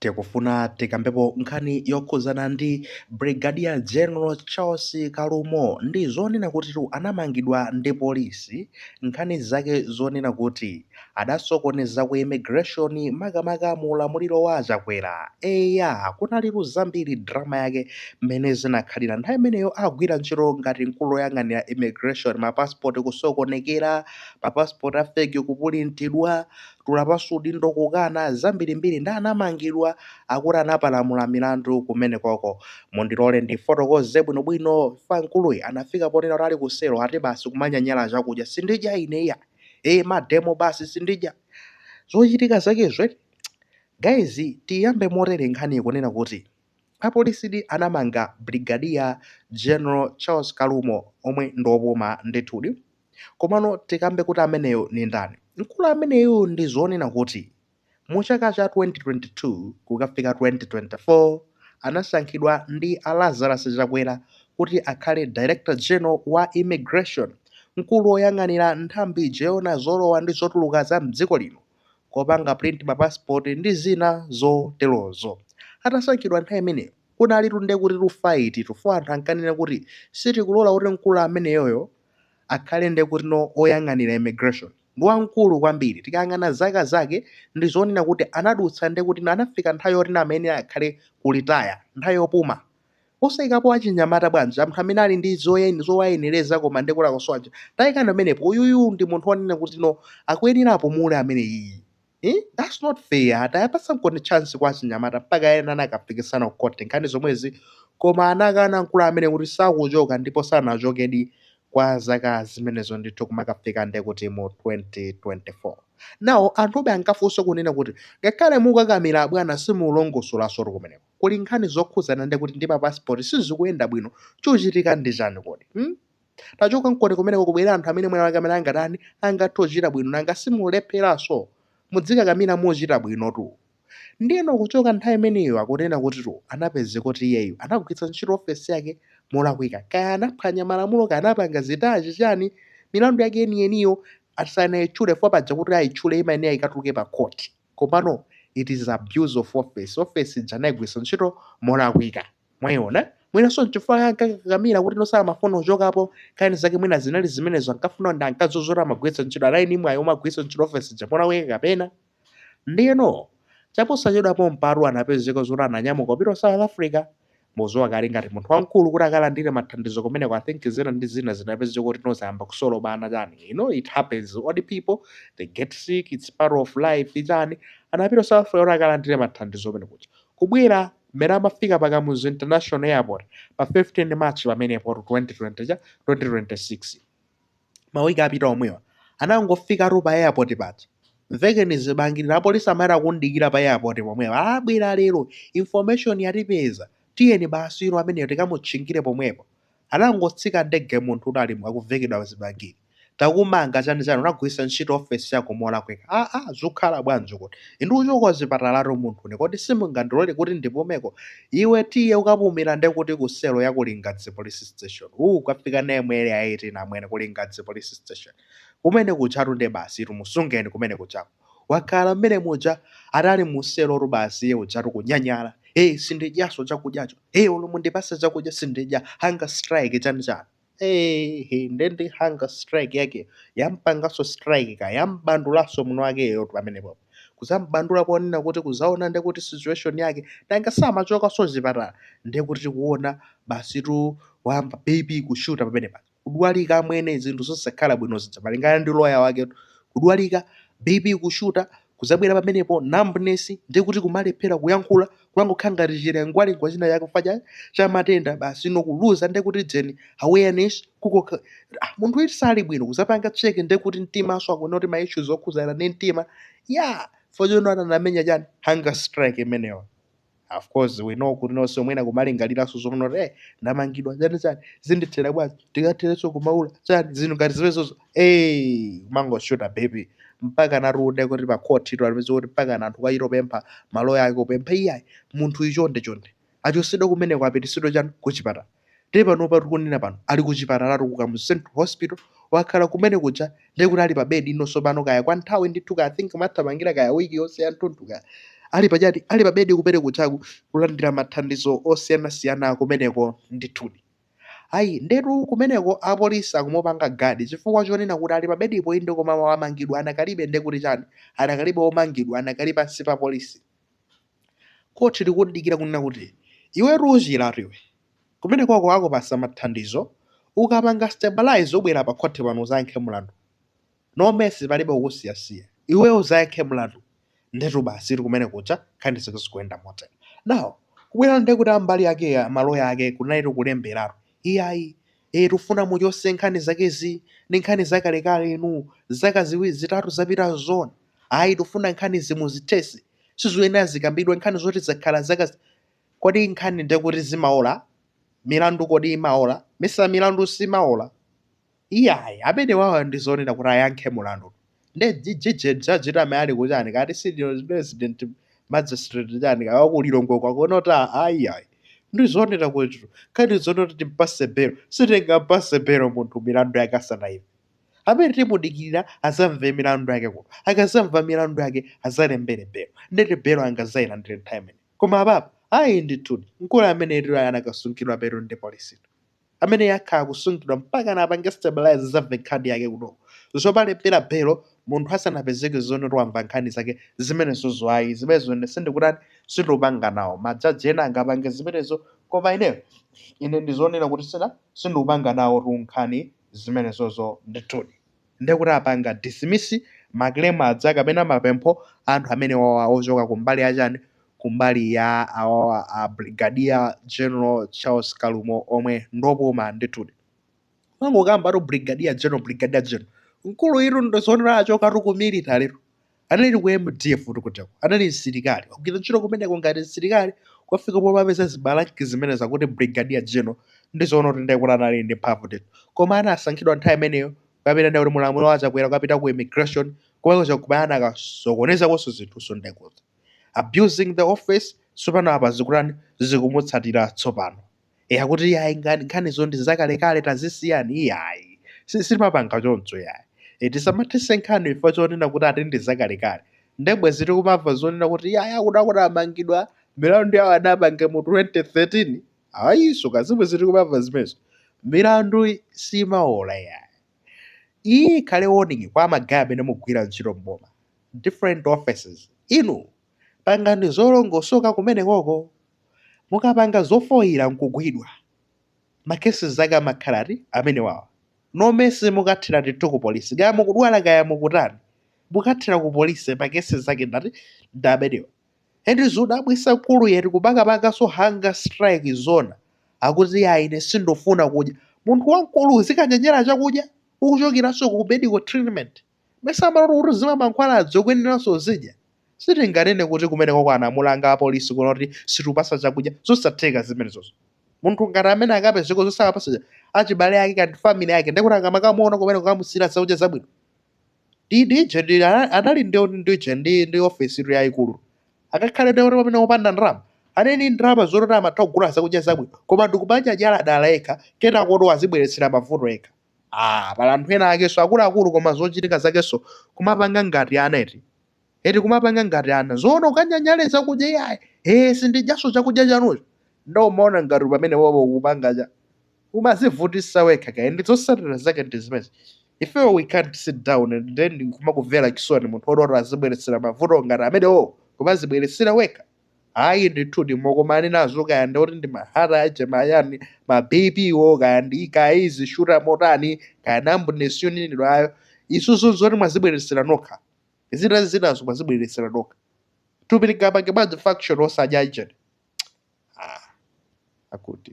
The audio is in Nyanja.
Tikufuna tikambepo nkhani yokhudzana ndi Brigadier General Charles Kalumo ndi zonena kutitu anamangidwa ndi polisi, nkhani zake zonena kuti adasokoneza ku immigration makamaka mu ulamuliro wa a Chakwera. Eya, kunali zambiri drama yake mmene zinakhalira nthawi imeneyo akugwira ntchito ngati mkulu oyang'anira immigration, ma passport kusokonekera, ma passport a fake kupulintidwa, tula pansi udindo kukana zambirimbiri nde anamangidwa akuti anapalamula milandu kumenekoko. Mundilole ndifotokoze bwinobwino chifukwa mkuluyi anafika ponena kuti ali kuselo ati basi kumanyanyala chakudya sindidya ine iyayi ee mademo basi sindidya zochitika zakezo. Guys tiyambe motere nkhani ikunena kuti apolisidi anamanga Brigadier General Charles Kalumo omwe ndi opuma ndithudi. Komano tikambe kuti ameneyo ndi ndani? Mkulu ameneyu ndi zonena kuti mu chaka cha 2022 kukafika 2024 anasankhidwa ndi a Lazarus Chakwera kuti akhale Director General wa Immigration, mkulu woyang'anira nthambi ija yoona zolowa ndi zotuluka za m'dziko lino, kopanga print ma passport ndi zina zoterozo. Atasankhidwa nthawi imeneyo kunalitu nde kuti tu fight tu, fo anthu ankanena kuti sitikulola kuti mkulu ameneyoyo akhale nde kuti no oyang'anira immigration ndi wamkulu kwambiri tikayang'ana zaka zake ndi zonena kuti anadutsa nde kuti no anafika nthawi yoti no amayenera akhale ku retire nthawi yopuma osayikapo achinyamata bwanji anthu amene ali ndi zoyen- zowayenereza koma nde kuti akusowa ntchito tayikani pamenepo uyuyu ndi munthu wonena kuti no akuyenera apumule ameneyiyi Iii that's not fair tawapatsankoni chance kwa achinyamata mpaka ena anakafikisana ku court nkhani zomwezi koma anakana mkulu amene kuti sakuchoka ndipo sanachokedi kwa zaka zimenezo ndithu kumakafika nde kuti mu 2024 now anthube ankafunsa kunena kuti ngakhale mukakamira abwana simulongosolasotu kumeneko kuli nkhani zokhuzana nde kuti ndi ma passport sizikuyenda bwino chikuchitika ndi chani kodi hmm? Tachokankoni kumeneko kubwere anthu amene mwina wake amene angatani angathe kuchita bwino nanga simulepheranso mudzikakamira mukuchita bwinotu ndiyeno kuchoka nthawi imeneyo akunena kuti tu anapeze kuti iyeyu anagwiritsa ntchito ofesi yake molakwika kaya anaphwanya malamulo kaya anapanga zitachi chani milandu yake yeniyeniyo asanayitchule fo paja kuti ayitchule imayenera ikatuluke pa court komano it is abuse of office office ija anayigwiritsa ntchito molakwika Mwayiona? Mwinanso n'chifukwa chake ankakakamira kuti no samafuna kuchokapo, nkhani zake mwina zinali zimenezo, ankafuna ndi ankadziwa zoti amagwiritsa ntchito, anali ndi mwayi omagwiritsa ntchito ofesi ija molakwika kapena. Ndiyeno, chaposachedwa pompatu anapezeka zoti ananyamuka kupita ku South Africa. Mudziwa kale ngati munthu wamkulu kuti akalandire mathandizo kumeneko, I think zina ndi zina zinapezeka kuti no zayamba kusolobana chani, you know it happens, old people they get sick, it's part of life chani, anapita ku South Africa kuti akalandire mathandizo kumene kuja. Kubwera Mmene amafika pa Kamuzu International Airport pa 15 March pamenepotu 2020 chani 2026. Mawiki apita omwewa. Anangofikatu pa airport paja. Mvekeni zibangili. Apolisi anali akumudikira pa airport pomwepo. Ah, abwera lero. Information yatipeza. Tiyeni basi inu ameneyo tikamutchingire pomwepo. Anangotsika ndege munthu uja ali akuvekedwa zibangili. Takumanga chani chani unagwilisa ntchito office yako molakwika aa zukhala bwanji kodi ine ndikuchoka kuchipatalatu munthune kodi simungandilole kuti ndipumeko iwe tiye ukapumila nde kuti ku cell ya ku lingadzi police station uu ukafika naye mu area 18 amwene ku lingadzi police station kumene kujatu nde basitu musungeni kumene kujako Wakhala mmene muja atali mu selotu basi iye ujatu kunyanyala ee sindidyaso chakudyacho ee olo mundipase chakudya sindidya hunger strike chani chani eeh nde ndi hunger strike yakeyo yampangaso strike kaya yamubandulaso mwiniwakeyotu pamenepopo kuzambandula poonena kuti kuzaona ndekuti situation yake nanga samachokaso kuchipatala ndekuti tikuona basitu wayamba BP kushuta pamenepaja. kudwalika amwene zinthu zosakhala bwino zija malingana ndi lawyer waketu kudwalika bp kushuta kuzabwera pamenepo numbness ndiye kuti kumalephera kuyankhula kumangokhala ngati chilengwalengwa china chake chifukwa cha matenda basi no kuluza ndiye kuti chani awareness kuti ah, munthuyutu sali bwino kuzapanga check ndiye kuti mtimanso akuona kuti ma issues okhuzana ndi mtima chifukwa chonena anamenya chani hunger strike imeneyo of course we know kuti no nso mwina kumalingaliranso zonena kuti eh ndamangidwa chani chani zindithera bwanji ndikatherenso kumaula chani zinthu ngati zimenezozo eh kumangoshuta BP mpakana tu nde kuti pakhoti tu analipeza kuti mpaka anthu kuchita kupempha maloya ake kupempha iyayi munthuyi chonde chonde achosedwa kumeneko apitisidwe chani kuchipatala Ndiye panopa tikunena pano ali kuchipatalatu ku Kamuzu Central Hospital, wakhala kumene kuja ndiye kuti ali pa bed ino tsopano kaya kwa nthawi ndithu kaya I think ikuthamangira kaya week yonse yanthunthu kaya ali pachati ali pa bed kumene kujaku kulandira mathandizo osiyanasiyana kumeneko ndithudi. Ayi ndetu kumeneko apolisi akumupanga guard chifukwa chonena kuti ali pa bedipo inde koma wamangidwa anakali ndiye kuti chani anakalibe omangidwa anakali pansi pa polisi. Khoti likudikira kunena kuti, iwe uchiretu iwe, kumenekoko akupasa mathandizo, ukapanga stabilize ubwere pa khoti pano uzayankhe mulandu. No mercy palibe kukusiyasiya. Iweyo uzayankhe mlandu. Ndetu basitu kumene kuja nkhani zake zikuyenda motere. Now, kubwera nde kuti ambali ake ma lawyer ake kunalitu kulemberatu. Iyayi. Eh tifuna muchose nkhani zakezi, ndi nkhani zakalekale inu, zaka ziwiri zitatu zapitazo zoona? Ayi tifuna nkhanizi muzithese. sizoyenera zikambidwe nkhani zoti zakhala zaka zi- kodi nkhani nde kuti zimaola milandu kodi imaola mesa milandu simaola iyayi amene wawa ndi zonena kuti ayankhe mulandu nde jijije jaji amene ali ku chani kati senior resident magistrate chani kawa ku Lilongwe akunena kuti ayiyayi ndi zonena kuti nkhani zonena kuti timpase belo sitingampase belo munthu milandu yake asanaimve Amene timudikirira azamve milandu yake kuno. Akazamva milandu yake azalembere belo. Ndeti belo angazayilandire nthawi imene. Koma apapa, ayi ndithudi, mkulu ameneyu anakasungidwa be ndi polisi. Ameneyu akhala akusungidwa mpakana apange stabilize azamve nkhani yake kuno. Zomalembera belo munthu asanapezeke zonena kuti wamva nkhani zake zimenezo ayi. Zimenezo ine sindikutani, sindikupanga nawo. Majaji ena angapange zimenezo koma ineyo, ine ndizonena kuti sina, sindikupanga nawotu nkhani zimenezozo ndithudi ndiye kuti apanga dismiss ma claim aja kapena mapempho a anthu amenewawa ochoka kumbali ya chani kumbali ya awawa a Brigadier General Charles Kalumo omwe ndopuma ndithudi tumangokambatu Brigadier General Brigadier General mkuluyutu ndizonena achokatu ku military tu anali ku mdf kuti kuteroko anali msilikali agwira ntchito kumeneko ngati msilikali kufika pomapeza zimalanki zimenezi zakuti brigadier general ndi zonena kuti ndiye kuti anali ndi mphamvu ndithu koma anasankhidwa nthawi imeneyo kupita ndiye kuti mu ulamuliro wa chakwera kupita ku immigration komwe kumakhala anakasokonezakonso zinthu so nde kuti abusing the office tsopano apa zikutani zikumutsatira tsopano e akuti iyayi nkhanizo ndi zakalekale tazisiyani iyayi Si- sitimapanga choncho yayi e tisamathese nkhani chifukwa chonena kuti ati ndi zakalekale nde bwezi tikumamva zonena kuti iyayi akuti akuti amangidwa milandu yawo adapanga mu 2013 ayiso si bwezi tikumamva zimenezo milandu simaola yayi iyi ikhale warning kwa magaye amene mugwira ntchito mboma different offices inu Pangani zolongosoka kumenekoko. Mukapanga zofoyira nkugwidwa, ma cases ake amakhala ngati amenewawa. No mercy mukathera ndithu ku police kaya mukudwala kaya mukutani mukathera ku police ma cases ake ngati ndi amenewa. And zodabwisa nkuluyutu kumakapangaso hunger strike zoona akuti ayi ine sindufuna kudya. Munthu wankulu uzikanyanyala chakudya ukuchokeraso ku medical treatment. mesa amalola kuti uzimwa mankhwala ukuyeneranso uzidya sitinganene kuti kumeneko anamulanga apolisi kunena kuti sitikupatsa chakudya zosatheka zimenezozo munthu ngati amene akapezeko zosakapatsa achibale ake kapena family yake ndekuti akamakamuona kumeneko kukamusiyira zakudya zabwino ndi dije ndi ana- anali ndi ndi dije ndi ndi office iri yayikulu akakhale ndi kuti pamene opanda ndalama anali ndi ndalama zoti amatha kugula zakudya zabwino koma nkupanga njala dala yekha kenako kuti wazibweretsera mavuto yekha Aaa pali anthu ena akenso akuluakulu koma zochitika zakenso kumapanga ngati ana eti. Eti kumapanga ngati ana. Zoona ukanyanyale zakudya iyayi. Ee sindidyanso chakudya chanucho. Nde umaona ngati pamene wowo ukupanga chani. Umazivutisa wekha kaya ndiye zotsatira zake ndi zimenezi. Ifeyo we can't sit down and then nkumakumvera chisoni munthu oti oti azibweretsera mavuto ngati amenewowo kumazibweretsera wekha. Ayi ndithudi mukumana nazo kaya ndi oti ndi ma heart ajeni mayani ma BP wo kaya ndi kaya ikuzishuta motani kaya numbness yonenedwayo issue nzoti mwazibweretsera nokha zina zinazo mwazibweretsera nokha thupi lingapange bwanji function osadya ijeni ah, akuti